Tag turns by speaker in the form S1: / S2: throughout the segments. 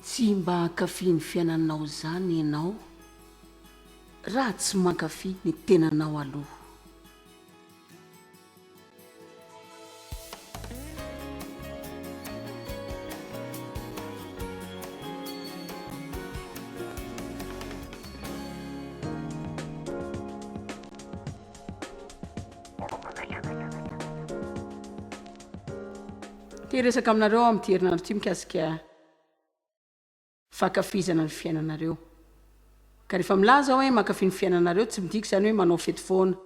S1: Tsy mba hankafy ny fiainanao izany ianao raha tsy mankafy ny tenanao aloha. Te hiresaka aminareo aho amin'ity herinandro ity mikasika fankafizana ny fiainanareo. Ka rehefa milaza aho hoe mankafy ny fiainanareo, tsy midika izany hoe manao fety foana.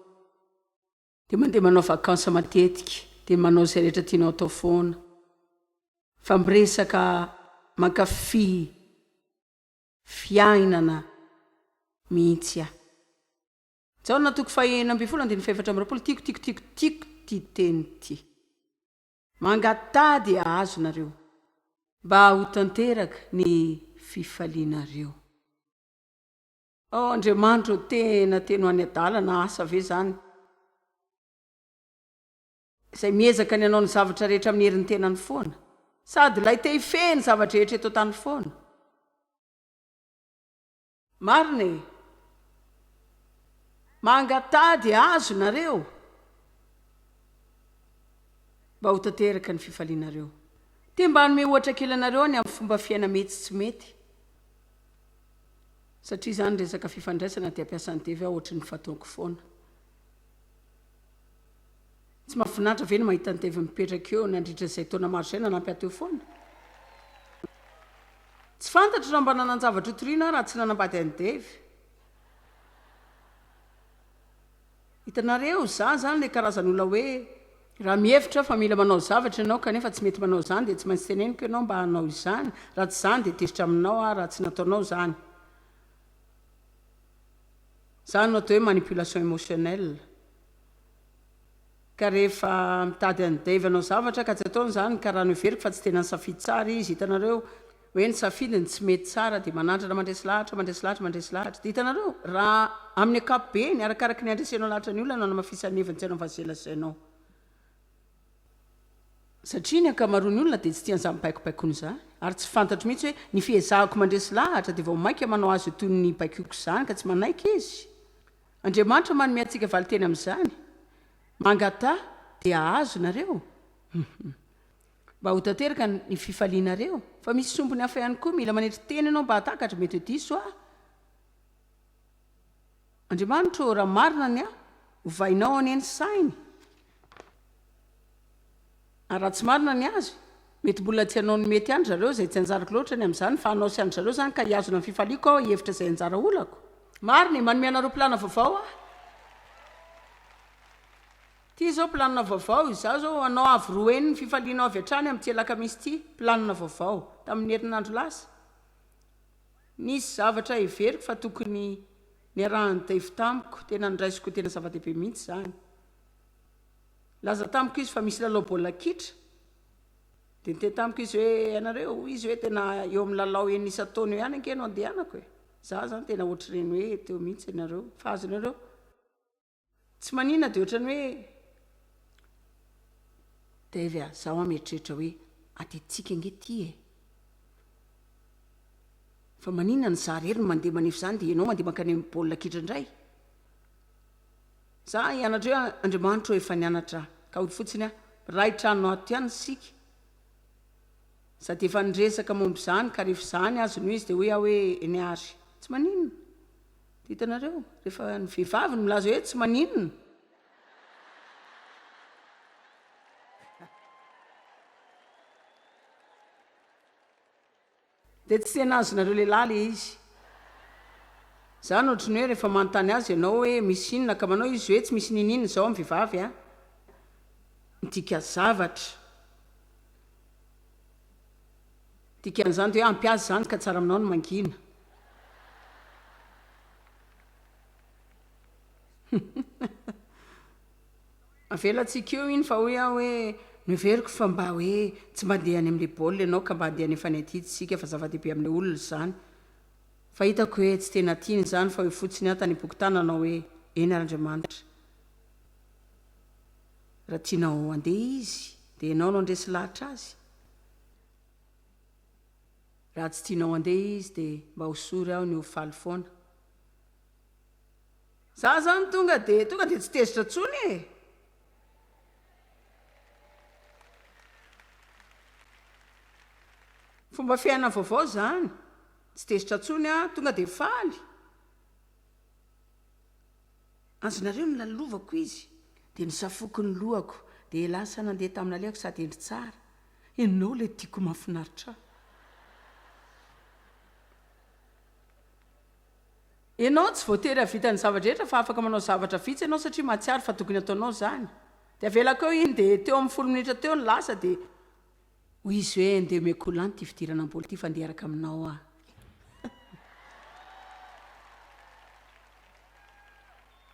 S1: Dia mandeha manao vacances matetika dia manao izay rehetra tianao atao foana fa miresaka mankafy fiainana mihitsy aho. Jaona toko fahenina ambin'ny folo andininy fahefatra amby roapolo Tiako tiako tiako tiako ity teny ity Mangataha dia hahazo nareo Mba ho tanteraka ny fifalianareo. Oh Andriamanitra oh tena tena ho any adalana asa ve zany izay miezaka ny hanao ny zavatra rehetra amin'ny herin'ny tenany foana sady ilay te hifehy ny zava-drehetra eto an-tany foana marina e mangataha dia azo nareo mba ho tanteraka ny fifalianareo te mba hanome ohatra kely anareo ny amin'ny fomba fiaina metsy tsy mety Satria izany resaka fifandraisana dia mpiasa ny TV aho ohatry ny fataoko foana. Tsy mahafinaritra ve ny mahita ny TV mipetraka eo nandritra izay taona maro izay nanampy ahy teo foana? Tsy fantatro raha mba nanan-javatra hotorina aho raha tsy nanambady an'i Dave. Hitanareo, za zany le karazan'olona hoe, raha mihevitra fa mila manao zavatra ianao kanefa tsy mety manao izany dia tsy maintsy teneniko ianao mba hanao izany, raha tsy izany dia tezitra aminao aho raha tsy nataonao izany. Izany no atao hoe manipulation émotionnelle. Ka rehefa mitady an'i Dave hanao zavatra ka tsy ataony izany, karaha noheveriko fa tsy tena nisafidy tsara izy, hitanareo, hoe nisafidy ny tsy mety tsara dia manandrana mandresy lahatra, mandresy lahatra, mandresy lahatra. Dia hitanareo, raha amin'ny ankapobeny, arakaraky ny handresenao lahatra ny olona no hanamafisan'ny heviny tsy hanavazelazainao. Satria ny ankamaroan'ny olona dia tsy tia an'izany baikobaikoana izany. Ary tsy fantatro mihitsy hoe ny fiezahako mandresy lahatra dia vao mainka manao azy ho toy ny baikoiko izany ka tsy manaiky izy. Andriamanitra manome antsika valinteny amin'izany. Mangataha dia hahazo nareo. Hum. Mba ho tanteraka ny fifalianareo. Fa misy sombiny hafa ihany koa. Mila manetry tena ianao mba hahatakatra. Mety ho diso aho. Andriamanitra ô, raha marina ny ahy, ovainao anie ny sainy. Ary raha tsy marina ny azy, mety mbola tsy hanao ny mety an-dry zareo izay tsy anjarako loatra ny amin'izany, fa hanao sy an-dry zareo izany ka hihazona ny fifaliako aho hihevitra izay anjara olako. Marina e, manome anareo plana vaovao aho. Ity izao plana vaovao, izaho izao hanao avo roa heny ny fifalianao avy hatrany amin'ity alakamisy ity, plana vaovao, tamin'ny herinandro lasa, nisy zavatra heveriko fa tokony niarahan'i Dave tamiko, tena noraisiko ho tena zava-dehibe mihitsy izany. Nilaza tamiko izy fa misy lalao baolina kitra, dia niteny tamiko izy hoe, ianareo, hoy izy hoe tena eo amin'ny lalao enina isan-taona eo ihany ange no andehanako e! Izaho izany tena hoatr'ireny hoe teo mihitsy ianareo, fa azonareo tsy manina dia ohatran'ny hoe Dave a, izaho an mieritreritra hoe adidintsika ange ity e! Fa maninona no izaho irery no mandeha manefy izany dia ianao mandeha mankany amin'ny baolina kitra indray? Za hianatra eo Andriamanitro efa nianatra ka hoy fotsiny aho Ray trano ato ihany isika Sady efa niresaka momba izany ka rehefa izany azy no izy dia hoy aho hoe eny ary tsy maninona Dia hitanareo rehefa ny vehivavy no milaza hoe tsy maninona Dia tsy tena azonareo lehilahy le izy. Zany ohatry ny hoe rehefa manontany azy ianao hoe misy inona ka manao izy hoe tsy misy niniana izao amin'ny vehivavy a! midika zavatra. Dikan'izany dia hoe ampy azy izany ka tsara aminao ny mangina. Avelantsika eo iny fa hoy aho hoe noheveriko fa mba hoe tsy mba andeha any amin'ilay baolina ianao ka mba andeha any fanny aty isika fa zava-dehibe amin'ilay olona izany fa hitako hoe tsy tena tiany izany fa hoy fotsiny aho tany am-pokontany nanao hoe eny ary Andriamanitra raha tianao handeha izy dia ianao no handresy lahatra azy raha tsy tianao handeha izy dia mba hosory aho ny ho faly foana Za zany tonga de tonga de tsy tezitra tsony e! Fomba fiaina vaovao zany, tsy tezitra tsony a, tonga de faly. Azonareo ny lalovako izy, de nisafoko ny lohako, de lasa nandeha tamin'alehako sady hendry tsara. Enao le tiako mafinaritra. Ianao tsy voatery hahavita ny zava-drehetra fa afaka manao zavatra vitsy ianao satria mahatsiaro fa tokony hataonao izany. Dia avelako eo iny dia teo amin'ny folo minitra teo ny lasa dia hoy izy hoe ndeha omeko ho lany ity fidirana am-bolo ity fa ndeha hiaraka aminao aho.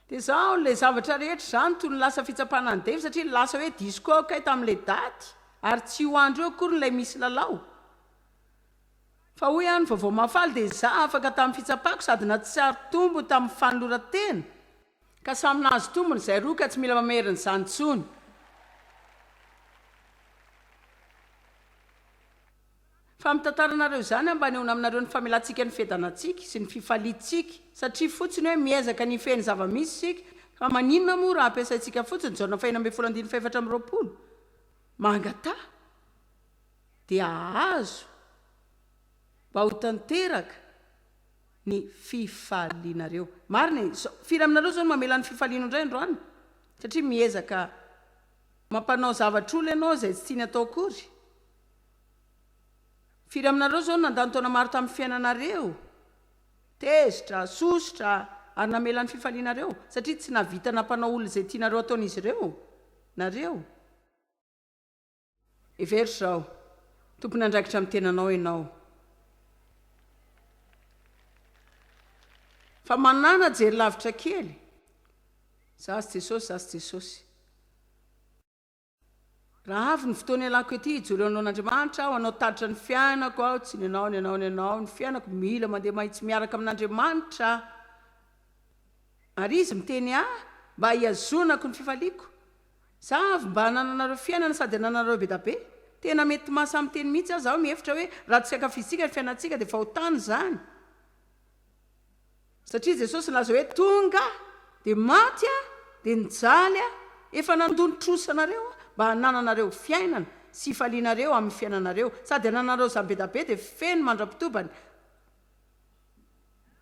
S1: Dia izaho ilay zavatra rehetra izany toy ny lasa fitsapana an'i Dave satria lasa hoe disko aho kay tamin'ilay daty ary tsy io andro io akory ilay misy lalao. Fa hoy aho ny vaovao mahafaly dia izaho afaka tamin'ny fitsapako sady natsiaro tombony tamin'ny fanoloran-tena, ka samy nahazo tombony izay roa ka tsy mila mamerina izany intsony fa mitantara anareo izany aho mba hanehoana aminareo ny famelantsika ny fiadanantsika sy ny fifaliantsika satria fotsiny hoe miezaka ny hifehy ny zava-misy isika fa maninona moa raha ampiasaintsika fotsiny ny jaona faheno ambin'ny folo andininy fahefatra amby roapolo mangataha dia hahazo mba ho tanteraka ny fifalianareo. Marina e! Firy aminareo izao no mamela ny fifaliany ho indray androany? Satria miezaka mampanao zavatra olona ianao izay tsy tiany atao akory. Firy aminareo izao no nandany taona maro tamin'ny fiainanareo, tezitra, sosotra, ary namela ny fifalianareo, satria tsy nahavita nampanao olona izay tianareo ataon'izy ireo nareo? Hevero izao, Tompon'andraikitra amin'ny tenanao ianao. Fa manàna jery lavitra kely. Za sy Jesosy, za sy Jesosy. Raha avy ny fotoana ialako ety, hijoro eo anoloan'Andriamanitra aho, hanao tatitra ny fiainako aho, tsy ny anao, ny anao, ny anao, ny fiainako, mila mandeha mahitsy miaraka amin'Andriamanitra aho. Ary Izy miteny ahy mba hihazonako ny fifaliako. Za avy mba anananareo fiainana sady ananareo be da be. Tena mety maha samy teny mihitsy aza aho mihevitra hoe raha tsy ankafizintsika ny fiainantsika dia fahotana izany. Satria Jesosy nilaza hoe tonga aho dia maty aho dia nijaly aho. Efa nandoa ny trosa anareo aho mba hanananareo fiainana sy hifalianareo amin'ny fiainanareo sady ananareo izany be da be dia feno mandra-pitobany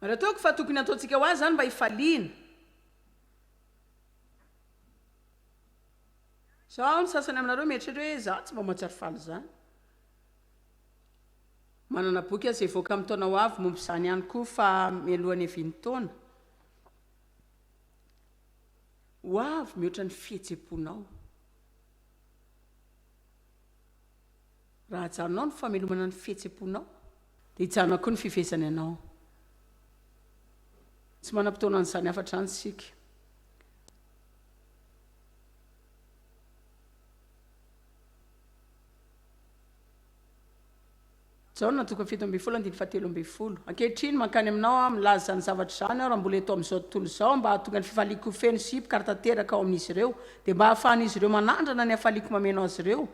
S1: ary ataoko fa tokony hataontsika ho azy izany mba hifaliana. Sao ny sasany aminareo mieritreritra hoe izaho tsy mba mahatsiaro faly izany. Manana boky aza hivoaka amin'ny taona ho avy momba izany ihany koa fa mialoha ny hiavian'ny taona ho avy mihoatra ny fihetseham-ponao. Raha ajanonao ny famelomana ny fihetsem-ponao, dia hijanona koa ny fifehezany anao. Tsy manam-potoana an'izany hafatr'izany isika. Jaona toko fito ambin'ny folo andininy fahatelo ambin'ny folo Ankehitriny mankany aminao aho milaza izany zavatra izany aho raha mbola eto amin'izao tontolo izao mba hahatonga ny fifaliako ho feno sy hipoka ary tanteraka ao amin'izy ireo dia mba hahafahan'izy ireo manandrana ny hafaliako mameno azy ireo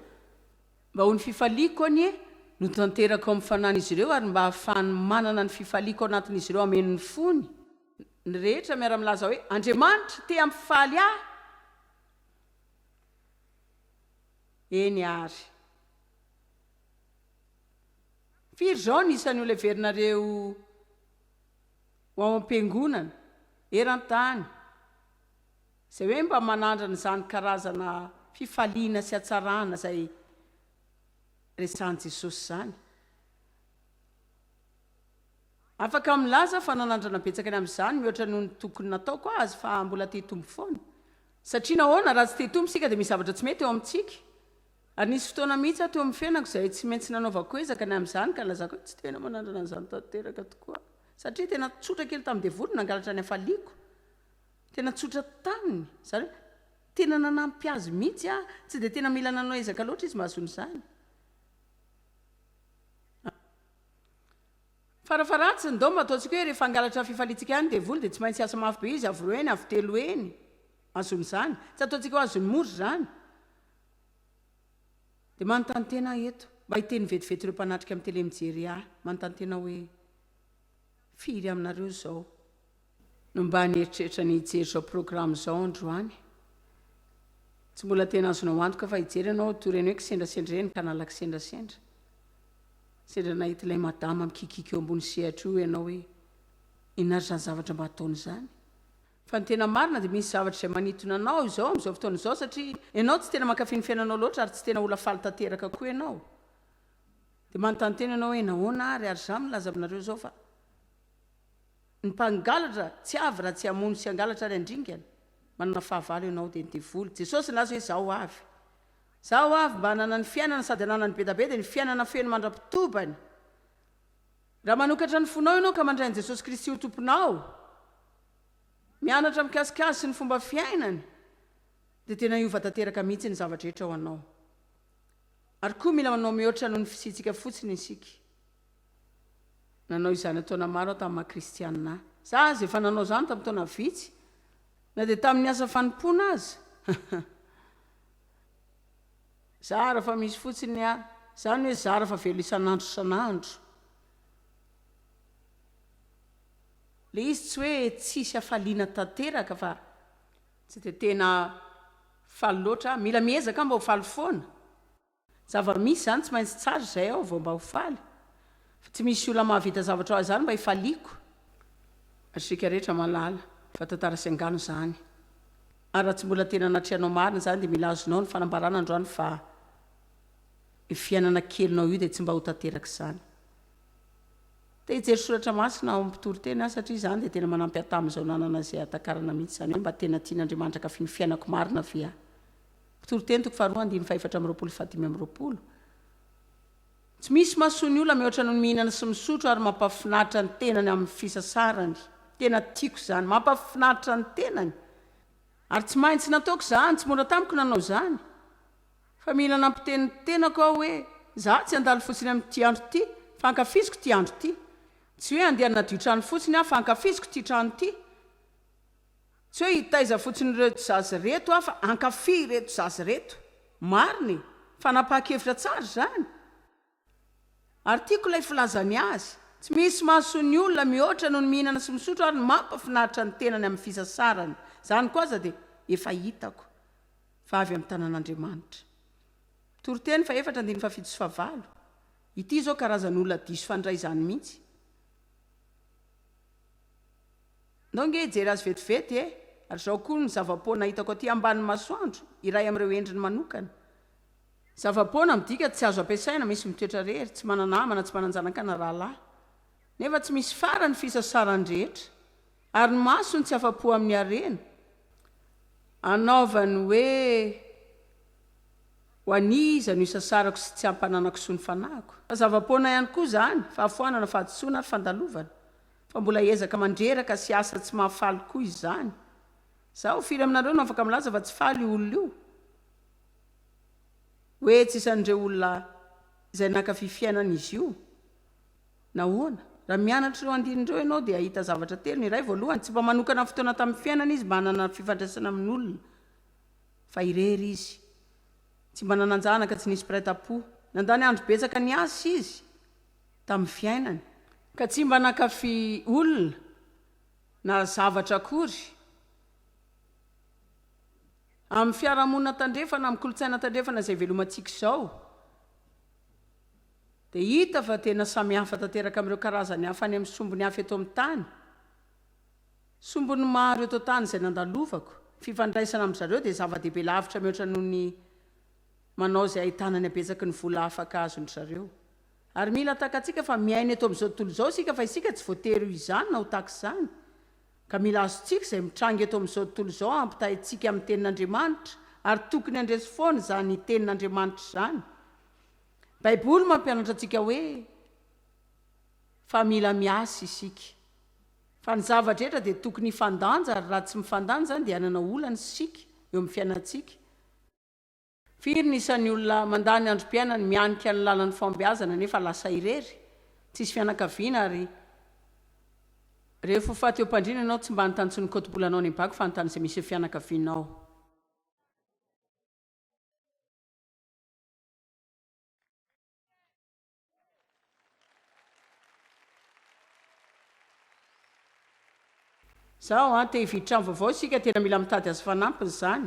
S1: mba ho ny fifaliako anie no tanteraka ao amin'ny fanan'izy ireo ary mba hahafahany manana ny fifaliako ao anatin'izy ireo hameno ny fony ny rehetra miara-milaza hoe Andriamanitra te hampifaly ahy eny ary Firy izao ny isan'ny olona heverinareo ho ao am-piangonana eran-tany izay hoe mba manandrana izany karazana fifaliana sy hatsarana izay resahin'i Jesosy izany? Afaka milaza aho fa nanandrana betsaka ny amin'izany mihoatra noho ny tokony nataoko azy fa mbola te-hitombo foana. Satria nahoana? Raha tsy te-hitombo isika dia misy zavatra tsy mety eo amintsika. Ary nisy fotoana mihitsy aho teo amin'ny fiainako izay tsy maintsy nanaovako ezaka ny amin'izany, ka nilazako hoe tsy tena manandrana an'izany tanteraka tokoa aho. Satria tena tsotra kely tamin'ny devoly ny nangalatra ny hafaliako. Tena tsotra taminy. Izany hoe, tena nanampy azy mihitsy aho. Tsy dia tena mila nanao ezaka loatra izy mba hahazoana izany. Farafaharatsiny, ndao mba ataontsika hoe rehefa hangalatra fifaliantsika ihany ny devoly, dia tsy maintsy hiasa mafy be izy, avo roa heny, avo telo heny, hahazoana izany. Tsy ataontsika hoe azony mora izany. Dia manontany tena aho eto, mba hiteny vetivety ireo mpanatrika amin'ny tele mijery ahy, manontany tena hoe, firy aminareo izao no mba nieritreritra ny hijery izao programme izao androany? Tsy mbola tena azonao antoka fa hijery ianao toy ireny hoe kisendrasendra ireny ka nala kisendrasendra. Sendra nahita ilay madama mikikiaka eo ambony sehatra io ianao hoe, inona ary izany zavatra mba ataony izany? Fa ny tena marina dia misy zavatra izay manintona anao izao amin'izao fotoana izao satria ianao tsy tena mankafy ny fiainanao loatra ary tsy tena olona faly tanteraka koa ianao. Dia manontany tena ianao hoe nahoana ary ary izaho milaza aminareo izao fa ny mpangalatra tsy avy raha tsy hamono sy hangalatra ary handringana. Manana fahavalo ianao dia ny devoly. Jesosy nilaza hoe izaho avy. Izaho avy mba hananany fiainana sady hananany bedabeda ny fiainana feno mandra-pitobany. Raha manokatra ny fonao ianao ka mandray an'i Jesosy Kristy ho Tomponao, mianatra mikasika Azy sy ny fomba fiainany, dia tena hiova tanteraka mihitsy ny zava-drehetra ho anao. Ary koa mila manao mihoatra noho ny fisiantsika fotsiny isika. Nanao izany an-taona maro aho tamin'ny maha-kristianina ahy. Izaho aza efa nanao izany tamin'ny taona vitsy, na dia tamin'ny asa fanompoana aza. Zara fa misy fotsiny ny ahy. Zany hoe zara fa velo isan'andro isan'andro. Le izy tsy hoe tsisy hafaliana tanteraka fa tsy dia tena faly loatra aho. Mila miezaka aho mba ho faly foana. Zava-misy zany tsy maintsy tsara izay aho vao mba ho faly. Fa tsy misy olona mahavita zavatra ho ahy zany mba hifaliako. Ary isika rehetra malala fa tantara sy angano zany. Ary raha tsy mbola tena natrehanao marina izany dia mila azonao ny fanambarana androany fa io fiainana kelinao io dia tsy mba ho tanteraka izany. Te hijery soratra masina ao amin'ny mpitoriteny aho satria izany dia tena manampy ahy tamin'izao nanana izay hahatakarana mihitsy izany hoe mba tena tian'Andriamanitra ankafin'ny fiainako marina ve aho. Mpitoriteny toko faharoa andininy fahefatra amby roapolo sy fahadimy amby roapolo. Tsy misy mahasoa ny olona mihoatra noho ny mihinana sy misotro ary mampahafinaritra ny tenany amin'ny fisasarany. Tena tiako izany. Mampahafinaritra ny tenany. Ary tsy maintsy nataoko izany, tsy mora tamiko nanao izany. Fa mila nampiteny ny tenako aho hoe, izaho tsy handalo fotsiny amin'ity andro ity, fa ankafiziko ity andro ity. Tsy hoe handeha hanadio trano fotsiny aho, fa ankafiziko ity trano ity. Tsy hoe hitaiza fotsiny ireto zaza ireto aho fa hankafy ireto zaza ireto. Marina e! Fanapahan-kevitra tsara izany. Ary tiako ilay filazany azy. Tsy misy mahasoa ny olona mihoatra noho ny mihinana sy misotro ary ny mampafinaritra ny tenany amin'ny fisasarany. Izany koa aza dia efa hitako fa avy amin'ny tanan'Andriamanitra. Toriteny fahefatra andininy fahafito sy fahavalo. Ity izao karazan'olona diso fandray izany mihitsy. Ndao nge hijery azy vetivety e! Ary izao koa ny zava-poana hitako aty ambanin'ny masoandro, iray amin'ireo endriny manokana. Zava-poana midika tsy azo ampiasaina, misy mitoetra rery, tsy mana-namana, tsy manan-janaka na rahalahy. Nefa tsy misy farany ny fisasarany rehetra. Ary ny masony tsy afa-po amin'ny harena. Anaovany hoe, Ho an'iza no isasarako sy tsy ampananako soa ny fanahiko? Fa zava-poana ihany koa izany, fahafoanana, fahadisoana ary fandalovana. Fa mbola hiezaka mandreraka sy hiasa tsy mahafaly koa izany. Zaho firy aminareo no afaka milaza fa tsy faly io olona io? Hoe tsy isan'ireo olona izay naka fifiainana izy io? Nahoana? Raha mianatra ireo andininy ireo ianao dia hahita zavatra telo, ny iray, voalohany, tsy mba manokana fotoana tamin'ny fiainana izy mba hanana fifandraisana amin'olona, fa irery izy. Tsy mba nanan-janaka, tsy nisy mpiray tampo. Nandany andro betsaka niasa izy. tamin'ny fiainany, ka tsy mba nankafy olona na zavatra akory, amin'ny fiarahamonina tandrefana, amin'ny kolontsaina tandrefana izay ivelomantsika izao, dia hita fa tena samihafa tanteraka amin'ireo karazany hafa any amin'ny sombiny hafa eto amin'ny tany. Sombiny maro eto an-tany izay nandalovako, ny fifandraisana amin-dry zareo dia zava-dehibe lavitra mihoatra noho ny manao izay ahitana ny habetsaky ny vola afaka azon-dry zareo. Ary mila takatsika fa miaina eto amin'izao tontolo izao isika fa isika tsy voatery ho izany na ho tahaka izany. Ka mila azontsika izay mitranga eto amin'izao tontolo izao hampitaha antsika amin'ny Tenin'Andriamanitra ary tokony handresy foana izany Tenin'Andriamanitra izany. Baiboly mampianatra antsika hoe fa mila miasa isika. Fa ny zava-drehetra dia tokony hifandanja ary raha tsy mifandanja izany dia hanana olana isika eo amin'ny fiainantsika. Firy ny isan'ny olona mandany androm-piainany mianika ny lalan'ny fahombiazana nefa lasa irery, tsisy fianakaviana ary Rehefa ho faty eo am-pandriana ianao tsy mba anontany tsony kotibolanao ny bagy fa anontany izay misy eo fianakavianao. Zao an, te hividy trano vaovao isika, tena mila mitady azy fanampiny izany.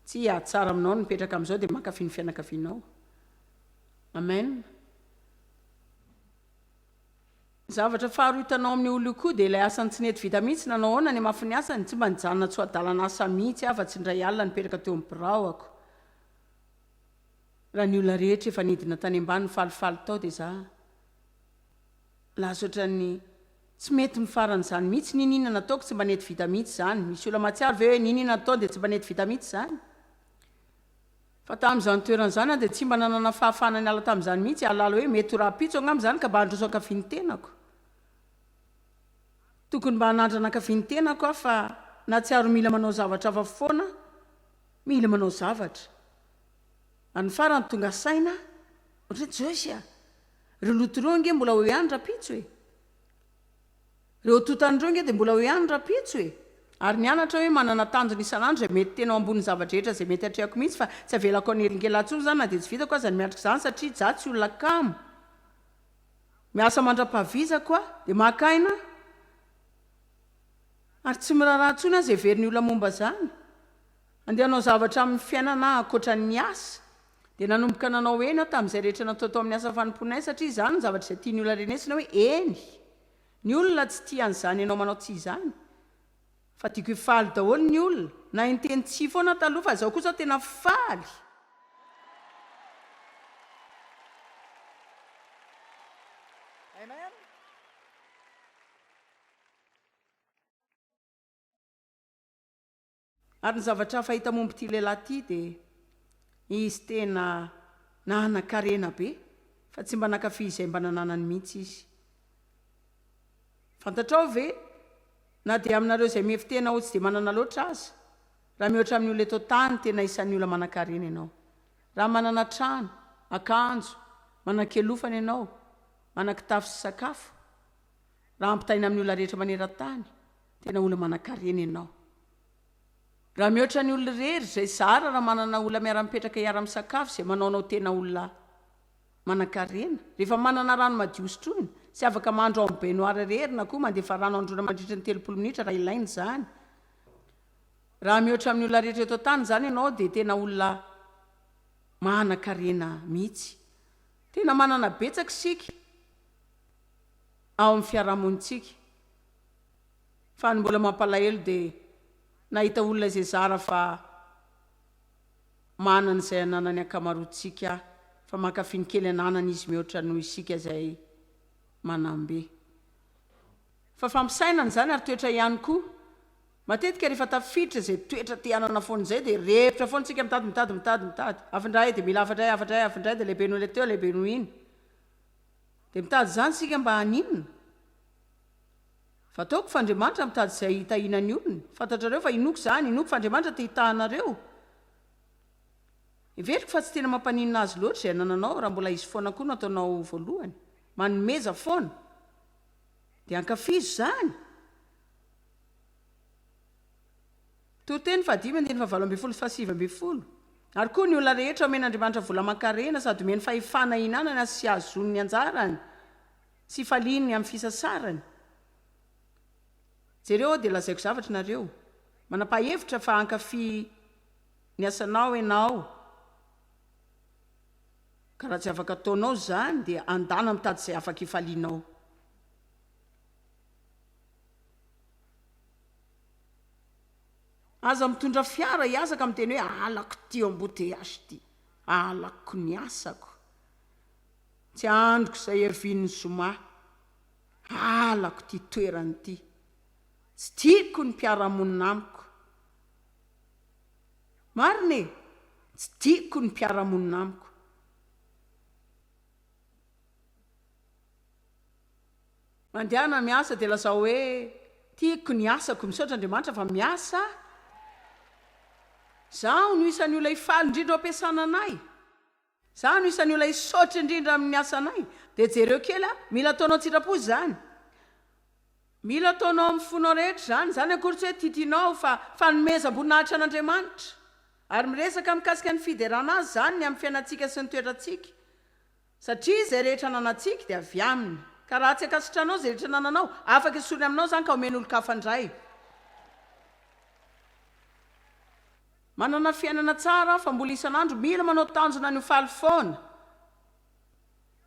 S1: Tsy hahatsara aminao ny mipetraka amin'izao dia mankafy ny fianakavianao. Amen. Ny zavatra faharoa hitanao amin'ny olona io koa dia ilay asany tsy nety vita mihitsy, nanao ahoana ny hamafin'ny asany? Tsy mba nijanona tsy ho adalana asa mihitsy aho fa tsy indray alina nipetraka teo amin'ny biraoko. Raha ny olona rehetra efa nidina tany ambany nifalifaly tao dia za lasa ohatran'ny tsy mety ny faran'izany mihitsy n'in inona nataoko tsy mba nety vita mihitsy izany misy olona mahatsiaro ve hoe n'in inona nataony dia tsy mba nety vita mihitsy izany fa tamin'izany toerana izany aho dia tsy mba nanana fahafahana niala tamin'izany mihitsy hahalala hoe mety ho rahampitso angamba izany ka mba handroso ankavian'ny tenako tokony mba hanandrana ankavian'ny tenako aho fa nahatsiaro mila manao zavatra hafa foana mila manao zavatra Any farany tonga saina ohatran'ny tsy oe sia reo loto reo ange mbola eo ihany rapitso e! reo totany reo ange de mbola eo ihany rapitso e! ary ny anatra oe manana tanjona isan'andro zay mety tena eo ambony zava-drehetra zay mety atrehako mihitsy fa tsy avelako hanelingelina tsony zany na de tsy vitako aza ny miatrika zany satria zah tsy olona kamo miasa mandra-pahavizako a! de maka aina ary tsy miraharaha tsony aza heverin'ny olona momba zany Andeha hanao zavatra amin'ny fiainana ankoatra ny asa. Dia nanomboka nanao eny aho tamin'izay rehetra natao tao amin'ny asa fanompoanay satria izany no zavatra izay tian'ny olona renesina hoe eny. Ny olona tsy tia an'izany ianao manao tsy izany. Fa tiako hifaly daholo ny olona. Nahay niteny tsia foana aho taloha fa izao kosa aho tena faly. Ary ny zavatra hafa hita momba ity lehilahy ity dia izy tena nanan-karena be fa tsy mba nankafy izay mba nananany mihitsy izy. Fantatrao ve na dia aminareo izay mihevi-tena ho tsy dia manana loatra aza, raha mihoatra amin'ny olona eto an-tany tena isan'ny olona manan-karena ianao. Raha manana trano, akanjo, manan-kialofana ianao, manan-kitafy sy sakafo. Raha ampitahaina amin'ny olona rehetra maneran-tany, tena olona manankarena ianao. Raha mihoatra ny olona irery, izay zara raha manana olona miara-mipetraka hiara-misakafo izay manao anao tena olona manankarena. Rehefa manana rano madio sotroina, tsy afaka mandro ao amin'ny baignoire irery na koa mandefa rano handroana mandritra ny telopolo minitra raha ilaina izany. Raha mihoatra amin'ny olona rehetra eto an-tany izany ianao dia tena olona manankarena mihitsy. Tena manana betsaka isika. ao amin'ny fiarahamonintsika fa ny mbola mampalahelo dia nahita olona izay zara fa manana izay ananan'ny ankamaroantsika fa mankafy ny kely ananany izy mihoatra noho isika izay manambe fa fampisainana izany ary toetra ihany koa matetika rehefa tafiditra izay toetra te hanana foana izay dia revitra foana isika mitady mitady mitady mitady avy indray dia mila avy indray avy indray avy indray dia lehibe noho ilay teo lehibe noho iny Dia mitady izany isika mba haninona? Fataoko fa Andriamanitra mitady izay hitahiana ny olony. Fantatrareo fa inoako izany, inoako fa Andriamanitra te hitahanareo. Heveriko fa tsy tena mampaninona Azy loatra izay anananao raha mbola izy foana koa no ataonao voalohany. Manomeza foana. Dia ankafizo izany! Toriteny fahadimy andininy fahavalo ambin'ny folo sy fahasivy ambin'ny folo, Ary koa ny olona rehetra omen'Andriamanitra vola aman-karena sady omeny fahefana hinanana sy hahazoany ny anjarany sy hifaliany amin'ny fisasarany. Jereo aho dia lazaiko zavatra ianareo. Manam-pahefitra fa hankafy ny asanao ianao, ka raha tsy afaka ataonao izany dia andana mitady izay afaka hifalianao. Aza mitondra fiara hiasa ka miteny hoe halako ity embouteillage ity, halako ny asako, tsy andriko izay hervin'ny zoma, halako ity toerana ity, tsy tiako ny mpiara-monina amiko. Marina e! Tsy tiako ny mpiara-monina amiko. Mandehana miasa dia lazao hoe, Tiako ny asako. Misaotra Andriamanitra fa miasa Zaho no isan'ny olona hifaly indrindra ao am-piasana anay. Zaho no isan'ny olona hisaotra indrindra amin'ny asanay. Dia jereo kely an! Mila ataonao an-tsitrapo izany. Mila ataonao amin'ny fonao rehetra izany. Izany akory tsy hoe titinao fa fanomezam-boninahitra an'Andriamanitra. Ary miresaka mikasika ny fiderana Azy izany ny amin'ny fiainantsika sy ny toetrantsika. Satria izay rehetra ananantsika dia avy Aminy. Ka raha tsy ankasitranao izay rehetra anananao, afaka esoriny aminao izany ka omeny olon-kafa indray. Manana fiainana tsara fa mbola isan'andro mila manao tanjona ny ho faly foana.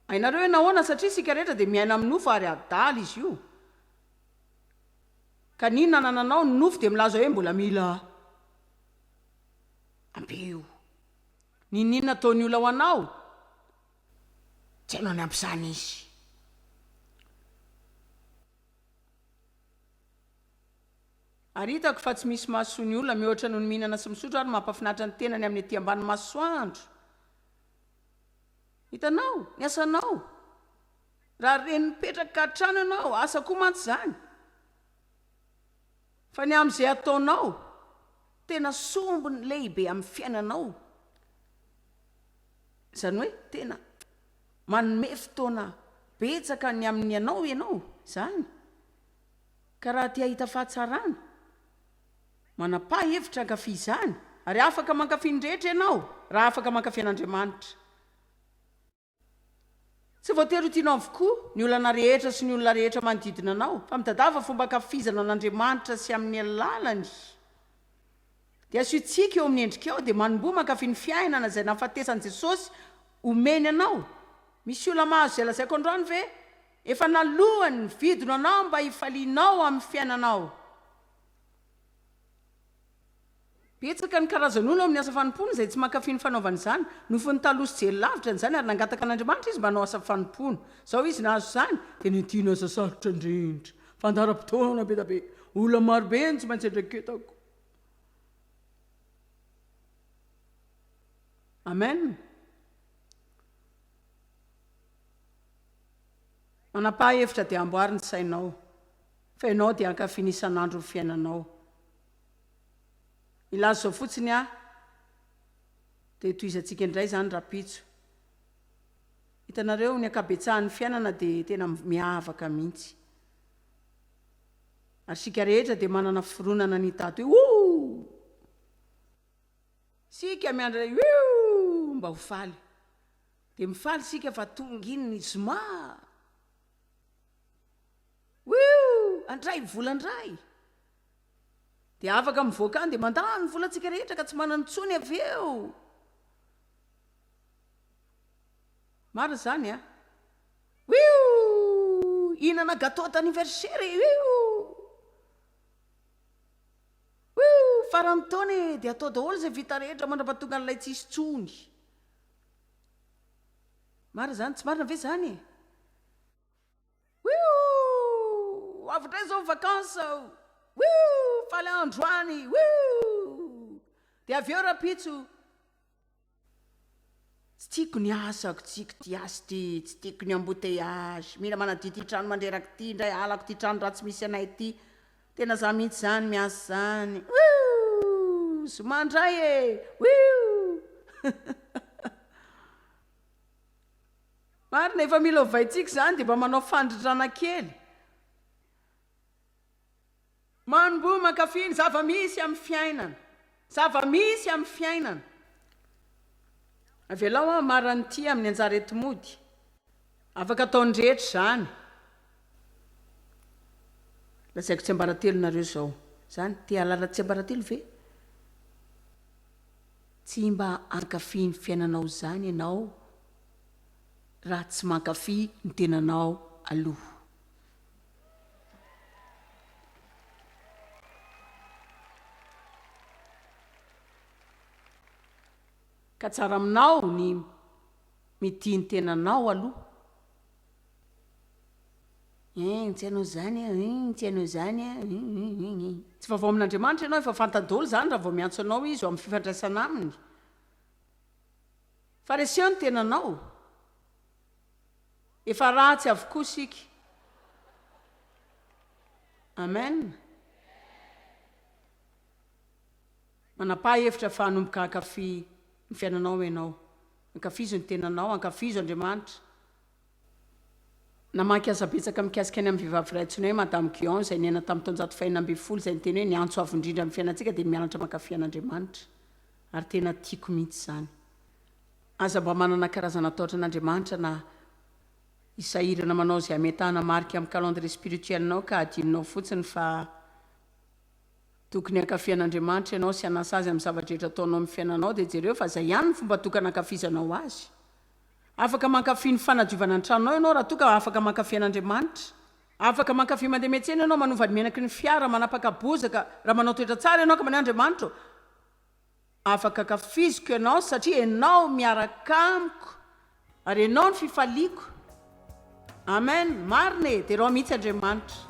S1: Hainareo hoe nahoana? Satria isika rehetra dia miaina amin'ny nofo ary adala izy io. Ka ny inona anananao? Ny nofo dia milaza hoe mbola mila ampio. Niniana ataon'ny olona ho anao? Tsy hainao ny ampisany izy. Ary hitako fa tsy misy mahasoa ny olona mihoatra noho ny mihinana sy misotro ary mampahafinaritra ny tenany amin'ny ety ambany masoandro. Hitanao? Ny asanao. Raha reny mipetraka hatrany ianao, asa koa mantsy izany. Fa ny amin'izay ataonao, tena sombiny lehibe amin'ny fiainanao, izany hoe tena manome fotoana betsaka ny amin'ny anao ianao izany, ka raha te-hahita fahatsarana, manapaha hevitra hankafy izany, ary afaka mankafy ny rehetra ianao raha afaka mankafy an'Andriamanitra. Tsy voatery ho tianao avokoa ny olana rehetra sy ny olona rehetra manodidina anao, fa mitadiava fomba ankafizana an'Andriamanitra sy amin'ny alalany dia asio tsiky eo amin'ny endrikao dia manomboha mankafy ny fiainana izay nahafatesan'i Jesosy omeny anao. Misy olona mahazo izay lazaiko androany ve? Efa naloany ny vidiny ho anao mba hifalianao amin'ny fiainanao. Betsaka ny karazan'olona ao amin'ny asa fanompoana izay tsy mankafy ny fanaovana izany. Nofin'ny taloha sy jery lavitra an'izany ary nangataka an'Andriamanitra izy mba hanao asa fanompoana. Izao izy nahazo izany, dia nentiny asa sarotra indrindra, fandaharam-potoana be dia be, olona maro be no tsy maintsy andraketako. Amen. Manapaha hevitra dia amboary ny sainao, fa ianao dia hankafy ny isan'andro ny fiainanao. Ilazo zao fotsiny ah de tohizantsika indray zany rapitso. Hitanareo ny ankabetsahan'ny fiainana de tena miavaka mihintsy. Ary isika rehetra de manana fironana ny hitato io ooh! Isika miandry ilay wioh! Mba ho faly. De mifaly isika fa tonga iny ny zoma ah! Wioh! Andray vola ndray! Dia afaka mivoaka any dia mandany ny volantsika rehetra ka tsy manana intsony avy eo. Marina izany a. Wiou! Hihinana gâteau d'anniversaire e! Wiou! Wiou! Faran'ny taona e! Dia atao daholo izay vita rehetra mandrapatonga an'ilay tsy hisy intsony. Marina izany, tsy marina ve izany e? Wouhh! Avy indray izao ny vacances aho! Wouhh! Faly androany! Wouhh! Dia avy eo rahampitso, Tsy tiako ny asako, tsy tiako ity asa ity, tsy tiako ny embouteillages, mila manadio ity trano mandreraka ity indray, halako ity trano ratsy misy anay ity, tena izaho mihitsy izany miasa izany! Wouhh! Zoma indray e! Wouhh! Marina efa mila ovaintsika izany dia mba manao fandrindrana kely. Manomboha mankafy ny zava-misy amin'ny fiainana. Zava-misy amin'ny fiainana. Avelao aho hamara an'ity amin'ny anjara eto mody. Afaka ataon'ny rehetra izany. Lazaiko tsiambaratelo nareo izao. Izany? Te hahalala tsiambaratelo ve? Tsy mba hankafy ny fiainanao izany ianao? raha tsy mankafy ny tenanao aloha. Ka tsara aminao ny mitia ny tenanao aloha. Hein, tsy hainao zany an, hein, tsy hainao zany an, hein, hein, hein, hein. Tsy vaovao amin'Andriamanitra ianao, efa fantany daholo zany raha vao miantso anao Izy ho amin'ny fifandraisana Aminy. Fariseo ny tenanao? Efa ratsy avokoa isika. Amen. Manapaha hevitra fa hanomboka hankafy ny fiainanao ianao. Ankafizo ny tenanao, ankafizo Andriamanitra, Namaky asa betsaka mikasika ny amin'ny vehivavy iray antsoina hoe Madame Guyon izay niaina tamin'ny taonjato fahenina ambin'ny folo izay niteny hoe ny antso avo indrindra amin'ny fiainantsika dia ny mianatra mankafy an'Andriamanitra ary tena tiako mihitsy izany aza mba manana karazana atahotra an'Andriamanitra na i sahirana manao izay hametahana marika amin'ny calendrier spirituel-nao ka adinonao fotsiny fa tokony hankafy an'Andriamanitra ianao sy hanasa Azy amin'ny zava-drehetra ataonao amin'ny fiainanao dia jereo fa izay ihany ny fomba tokana hankafizanao Azy Afaka mankafy ny fanadiovana ny tranonao ianao raha toa ka afaka mankafy an'Andriamanitra. Afaka mankafy mandeha miantsena ianao, manova ny menaky ny fiara, manapaka bozaka, raha manao toetra tsara ianao ka maneho Andriamanitra hoe, Afaka ankafiziko ianao satria ianao miaraka amiko ary ianao no fifaliako. Amen! Marina e! Derao mihitsy Andriamanitra.